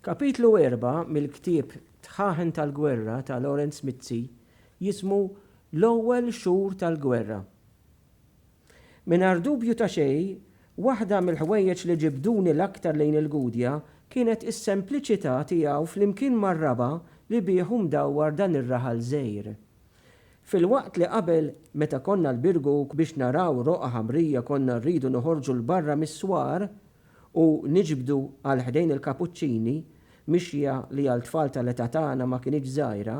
Kapitlu erba' mill-ktieb Tħaħen tal-Gwerra ta' Lawrence Mizzi jismu L-Ewwel Xhur tal-Gwerra. Mingħajr dubju ta' xejn, waħda mill-ħwejjeġ li ġibduni l-aktar lejn il-Gudja kienet is-sempliċità tiegħu flimkien mar-raba' li bih hu mdawwar dan ir-raħal żgħir. Filwaqt li qabel, meta konna l-Birguk biex naraw roqgħa ħamrija konna rridu noħorġu 'l barra mis-swar, u niġbdu għal ħdejn il-kapuċċini, mixja li għal tfal tal-età tagħna ma kinitx żgħira,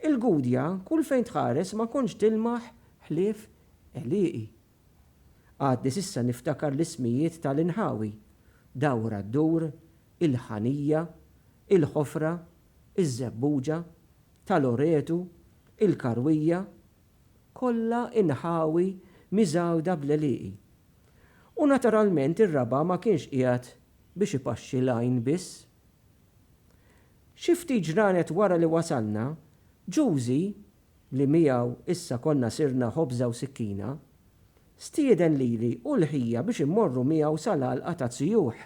il-Gudja kull fejn tħares ma kontx tilmaħ ħlief għelieqi. Għadni s'issa niftakar l-ismijiet tal-inħawi, Dawra ddur, il-Ħanija, il-Ħofra, iż-Żebbuġa, ta' Loretu, il-Karwija, kollha inħawi miżgħuda bl-għelieqi. U naturalment ir-raba' ma kienx qiegħed biex ipaxxi l-għajn biss. Xi ftit ġranet wara li wasalna, Ġużi, li miegħu issa konna sirna ħobża u sikkina, stieden lili u l-ħija biex immorru miegħu sal-għalqa taz-zjuħ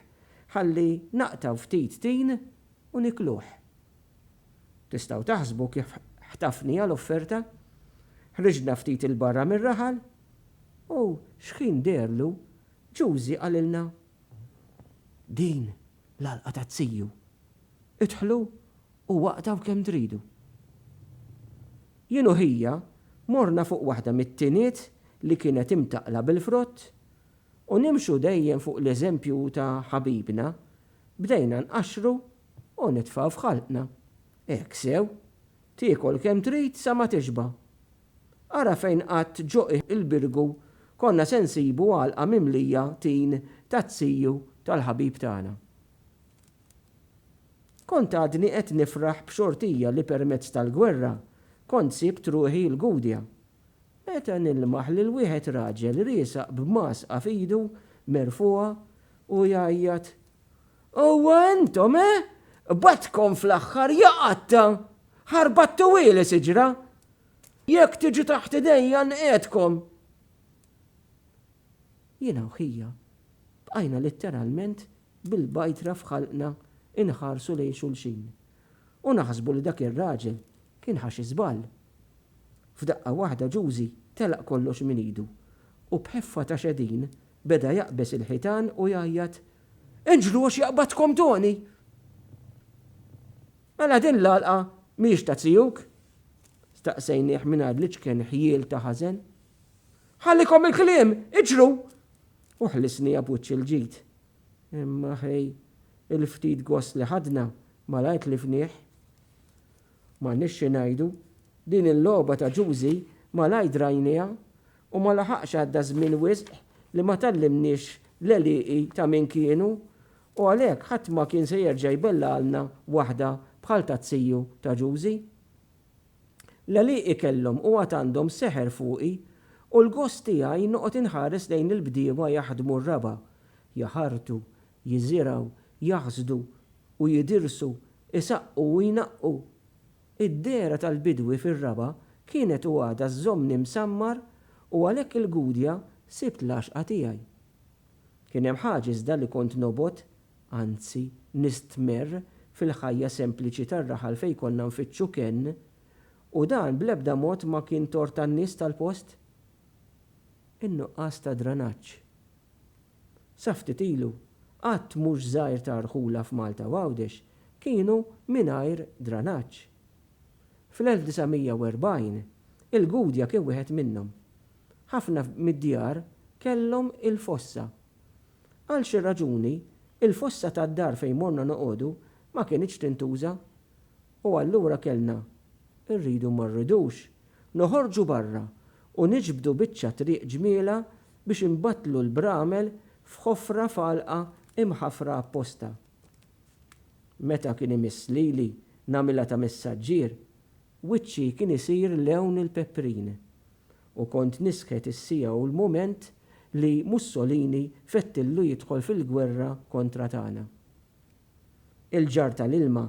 ħalli naqtgħu ftit tin u nikluh. Tistgħu taħsbu kif ħtafnija l-offerta! Ħriġna ftit 'il barra mir-raħal u xħin deherlu Ġużi qalilna, Din l-għalqa ta' Ziju. Idħlu u waqtgħu kemm tridu. Jien u ħija morna fuq waħda mit-tiniet li kienet imtaqqla bil-frott u nimxu dejjem fuq l-eżempju ta' ħabibna Bdejna nqaxxru u nitfgħu f'ħalqna. Hekk sew. Tiekol kemm trid sa ma tixba'. Ara fejn qatt ġo qiegħ il-birgu konna se nsibu għalqa mimlija tin taz-ziju tal-ħabib tagħna. Kont għadni qed nifraħ b'xortija li permezz tal-gwerra kont sibt ruħi l-Gudja. Meta nilmaħ lil wieħed raġel riesaq b'mgħasqa f'idu merfugħa u jgħajjat, Huwa intom, eh? Qbadtkom fl-aħħar, ja qatta! Ħarbattuhieli siġra! Jekk tiġu taħt idejja nqiegħedkom! Jiena u ħija bqajna litteralment bil-bajtra f'ħalqna inħarsu lejn xulxin u naħsbu li dak ir-raġel Kien ħa xi żball. F'daqqa waħda Ġużi telaq kollox minn idu u b'ħeffa ta' xedin beda jaqbeż il-ħitan u jgħajjat, Inġlu għax jaqbadkom Toni! Mela din l-għalqa mhijiex ta' zijuk? staqsejnieh mingħajr l-iċken ħjiel ta' ħażen. Ħallikom il-kliem, iġru! u ħlisniha b'wiċċ il-ġid. Imma ħej, il-ftit gost li ħadna malajr tlifnieh. M'għandniex xi ngħidu, din il-logħba ta' Ġużi malajr drajnieha u ma laħaqx għadda żmien wisq li ma tgħallimniex l-għelieqi ta' min kienu u għalhekk ħadd ma kien se jerġa' jbellagħalna waħda bħal tat-tiju ta' Ġużi. L-għelieqi kellhom u għad għandhom seħer fuqi u l-gost tiegħi noqgħod inħares lejn il-bdiewa jaħdmu r-raba', jaħartu, jiżirgħu, jaħsdu u jidirsu, isaqqu u jnaqqu. Id-dehra tal-bidwi fir-Raba' kienet u għadha żżommni msammar u għalhekk il-Gudja sibt l-għaxqa tiegħi. Kien hemm ħaġa iżda li kont nobgħod, anzi nistmerr fil-ħajja sempliċi tar-raħal fejn konna nfittxu kenn u dan bl-ebda mod ma kien tort tan-nies tal-post. In-nuqqas ta' dranaġġ. sa ftit ilu, għadd mhux żgħir ta' rħula f'Malta u Għawdex kienu mingħajr dranaġġ. Fl-1940, il-Gudja kien wieħed minnhom. Ħafna mid-djar kellhom il-fossa. Għal xi raġuni, il-fossa tad-dar fejn morna noqogħdu ma kinitx tintuża. U allura kellna, irridu ma rridux, noħorġu barra u niġbdu biċċa triq ġmielha biex inbattlu l-bramel f'ħofra f'għalqa imħafra apposta. Meta kien imiss lili nagħmilha ta' messaġġier, wiċċi kien isir lewn il-peprin u kont nisħet is-siegħa u l-mument li Mussolini fettillu jidħol fil-gwerra kontra tagħna. Il-ġarr tal-ilma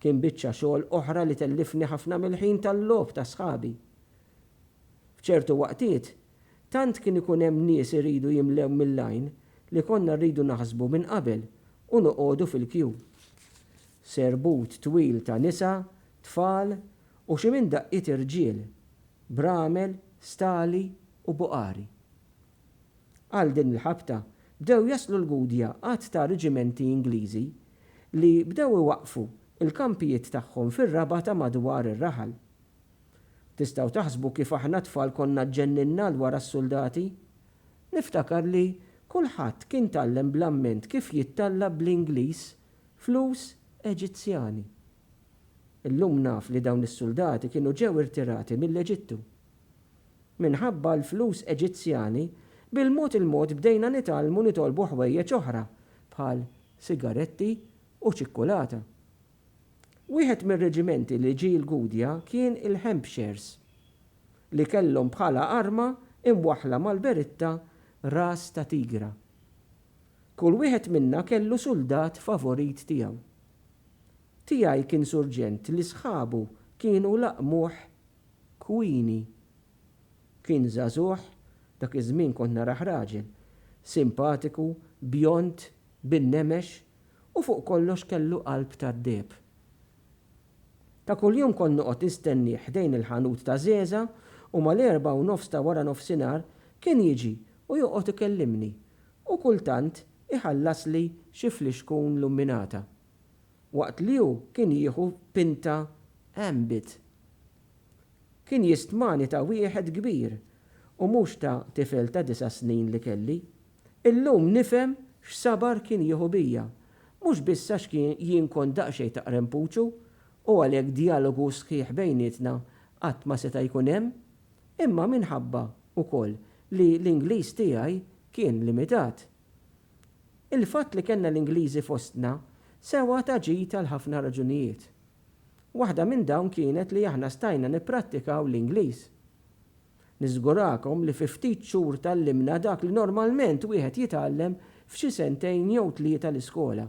kien biċċa xogħol oħra li tellifni ħafna mill-ħin tal-logħob ta' sħabi. F'ċertu waqtiet, tant kien ikun hemm nies iridu jimlew mill-għajn li konna rridu naħsbu minn qabel u noqogħdu fil-kju. Serbut twil ta' nisa, tfal u xi minn daqqiet irġiel, bramel, stali u buqari. Għal din il-ħabta bdew jaslu l-Gudja għadd ta' riġimenti Ingliżi li bdew iwaqqfu l-kampijiet tagħhom fir-raba' ta' madwar ir-raħal. Tistgħu taħsbu kif aħna t-tfal konna ġġenninna 'l wara s-suldati? Niftakar li kulħadd kien tgħallem bl-amment kif jittalla' bl-Ingliż flus Eġizzjani. Illum naf li dawn is-suldati kienu ġew irtirati mill-Eġittu. minħabba l-flus Eġizzjani, bil-mod il-mod bdejna nitgħallmu nitolbu ħwejjeġ oħra bħal sigaretti u ċikkulata. Wieħed mir-reġimenti li ġie l-Gudja kien il-Hampshires, li kellhom bħala arma imwaħħla mal-beritta ras ta' tigra. Kull wieħed minna kellu suldat favorit tiegħu. Tiegħi kien surġent li sħabu kienu laqmuh Queenie, Kien żagħżugħ, dak iż-żmien kont narah raġel, simpatiku, bjond, bin-nemex u fuq kollox kellu qalb tad-deheb. Ta' kuljum kont noqgħod nistennieh ħdejn il-ħanut ta' żgħeża u mal-erbgħa u nofs ta' wara nofsinhar kien jiġi u joqgħod ikellimni u kultant iħallasli xi flixkun lumminata. waqt li hu kien jieħu pinta Ambit. Kien jistmani ta' wieħed kbir u mhux ta' tifel ta' disa' snin li kelli. Illum nifhem x'sabar kien jieħu bija, mhux biss għax jien kont daqsxejn ta' qrempuċu u għalhekk djalogu sħiħ bejnietna qatt ma seta' jkun hemm, imma minħabba wkoll li l-Ingliż tiegħi kien limitat. Il-fatt li kellna l-Ingliżi fostna sewa ta' ġid għal ħafna raġunijiet. Waħda minn dawn kienet li aħna stajna nipprattikaw l-Ingliż. Niżgurakom li fi ftit xhur tgħallimna dak li normalment wieħed jitgħallem f'xi sentejn jew tlieta l-iskola.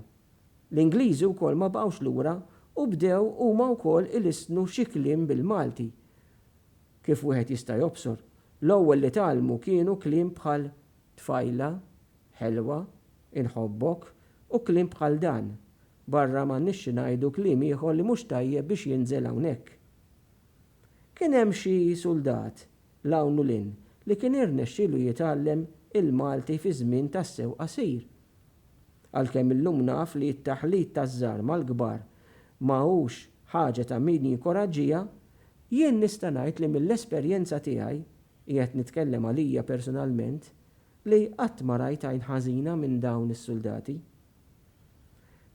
L-Ingliżi wkoll ma baqgħux lura u bdew huma wkoll ilissnu xi kliem bil-Malti. Kif wieħed jista' jobsor, l-ewwel li tgħallmu kienu kliem bħal Tfajla, ħelwa, inħobbok, u kliem bħal dan. Barra m'għandniex xi ngħidu kliem ieħor li mhux tajjeb biex jinżel hawnhekk. Kien hemm xi suldat, 'l hawn u 'l hinn, li kien irnexxielu jitgħallem il-Malti fi żmien tassew qasir. Għalkemm illum naf li t-taħlit taż-żgħar mal-kbar ma hux ħaġa ta' min jinkoraġġiha, jien nista' ngħid li mill-esperjenza tiegħi, Qiegħed nitkellem għalija personalment li qatt ma rajt għajn ħażina minn dawn is-suldati.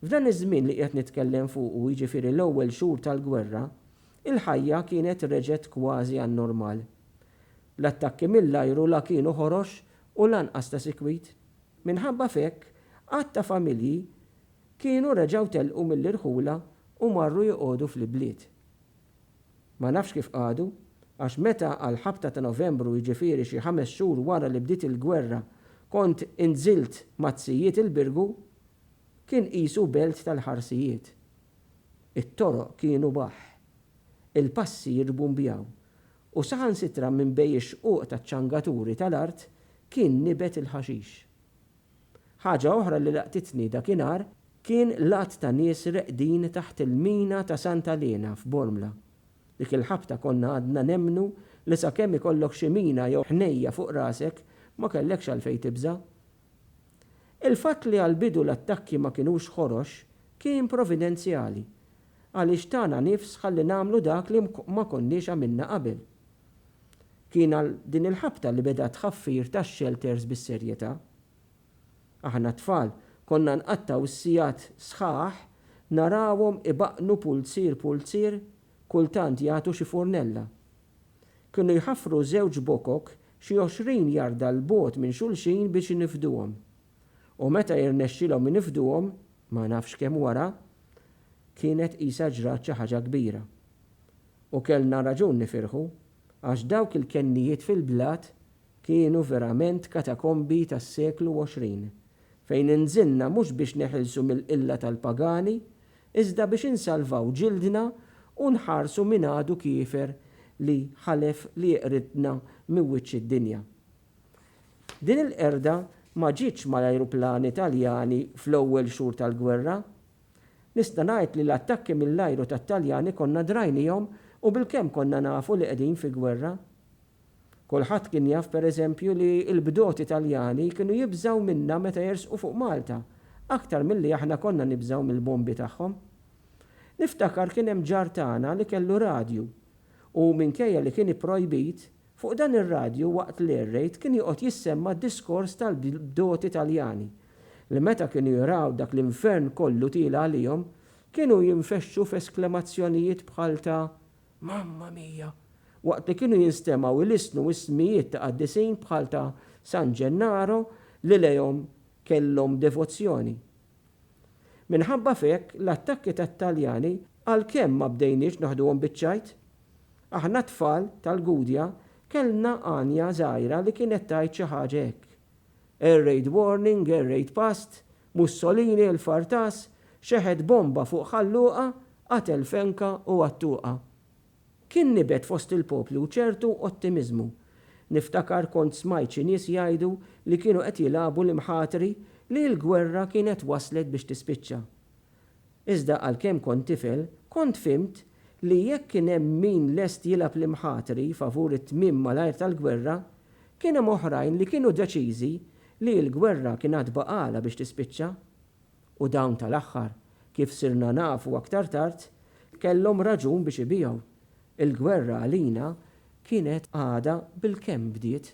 F'dan iż-żmien li qiegħed nitkellem fuqu, jiġifieri l-ewwel xhur tal-gwerra, il-ħajja kienet reġgħet kważi għan-normal. L-attakki mill-ajru la kienu ħorox u lanqas ta' sikwit. Minħabba f'hekk, għadd ta' familji kienu reġgħu telqu mill-irħula u marru joqogħdu fl-ibliet. Ma nafx kif qagħdu, għax meta għall-ħabta ta' Novembru jiġifieri xi ħames xhur wara li bdiet il-gwerra kont inżilt maz-zijiet il-Birgu kien qisu belt tal-ħarsijiet. It-toroq kienu baħħ. Il-passi jirbumbjaw u saħansitra minn bejn ix-xquq taċ-ċangaturi tal-art kien nibet il-ħaxix. Ħaġa oħra li laqtitni dakinhar kien l-għadd ta' nies reqdin taħt il-mina ta' Santa Lena f'Bormla. Dik il-ħabta konna għadna nemmnu li sakemm ikollok xi mina jew ħnejja fuq rasek ma kellekx għalfejn tibża'. Il-fatt li għall-bidu l-attakki ma kinux ħorox kien providenzjali għaliex tana nifs ħalli nagħmlu dak li ma konniex għamilna qabel. Kien għal din il-ħabta li beda t-tħaffir tax-xelters bis-serjetà. Aħna t-tfal konna nqattgħu s-sigħat sħaħ narawhom ibaqqnu pulzier pulzier kultant jagħtu xi furnella. Kienu jħaffru żewġ bokok xi għoxrin jarda 'l bogħod minn xulxin biex inifduhom. U meta jirnexxilhom inifduhom, ma nafx kemm wara, kienet qisha ġrat xi ħaġa kbira. U kellna raġun nifirħu, għax dawk il-kennijiet fil-blat kienu verament katakombi tas-seklu 20, fejn inżilna mhux biex neħilsu mill-qilla tal-pagani, iżda biex insalvaw ġildna u nħarsu min għadu kiefer li ħalef li jeqridna minn wiċċ id-dinja. Din il-qerda ma ġietx mal-ajruplani Taljani fl-ewwel xhur tal-gwerra, Nista' ngħid li l-attakki mill-ajru tat-Taljani konna drajnihom u bilkemm konna nafu li qegħdin fi gwerra. Kulħadd kien jaf per eżempju li l-bdoti Taljani kienu jibżgħu minna meta jersqu fuq Malta aktar milli aħna konna nibżgħu mill-bombi tagħhom. Niftakar kien hemm ġar tagħna li kellu radju u minkejja li kien ipprojbit Fuq dan ir-radju waqt l-air raid kien joqgħod jissemma d-diskors tal-bdoti Taljani li meta kienu jraw dak l-infern kollu tiela' għalihom kienu jinfexxu f'esklemazzjonijiet bħal ta' Mamma mia! waqt li kienu jinstemgħu ilisnu ismijiet ta' qaddisin bħal ta' San Ġennaro li lejhom kellhom devozzjoni. Minħabba f'hekk l-attakki tat-Taljani għalkemm ma bdejniex naħduhom biċ-ċajt, Aħna t-tfal tal-Gudja kellna għanja żgħira li kienet tgħid xi ħaġa hekk, Air Raid Warning, Air Raid Past, Mussolini, il-Fartas, xeħet bomba fuq Ħal Luqa, qatel fenka u għattuqa. Kien nibet fost il-poplu ċertu ottimiżmu. Niftakar kont smajt xi nies jgħidu li kienu qed jilagħbu l-imħatri li l-gwerra kienet waslet biex tispiċċa. Iżda għalkemm kont tifel, kont fhimt li jekk kien hemm min lest jilgħab l-imħatri favur it-tmiem malajr tal-gwerra, kien hemm oħrajn li kienu deċiżi li l-gwerra kien għad baqagħlha biex tispiċċa. U dawn tal-aħħar, kif sirna nafu aktar tard, kellhom raġun biex ibigħu. Il-gwerra għalina kienet għadha bilkemm bdiet.